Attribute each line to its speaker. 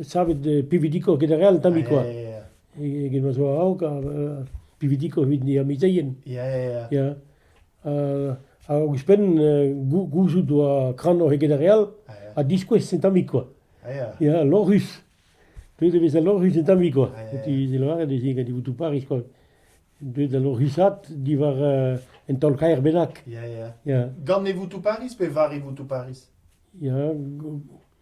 Speaker 1: savet pividikour get ar re all tammik koa.
Speaker 2: Get ma zo
Speaker 1: a-raok pividikour evit an amezeien. Ya. hag ouzhpenn gouzout oa kranoc'h eget ar re all ha diskouez
Speaker 2: un tammik koa.
Speaker 1: Ya,
Speaker 2: lorc'hus.
Speaker 1: Deuet e vez da lorc'hus un tammik koa. Ti lavaret ez
Speaker 2: eo gant
Speaker 1: e Paris koa. Deuet da lorc'husat diwar un taol-kaer bennak. Ya, ya.
Speaker 2: Gant e Voutou
Speaker 1: Paris
Speaker 2: pe war e Voutou Paris? Ya,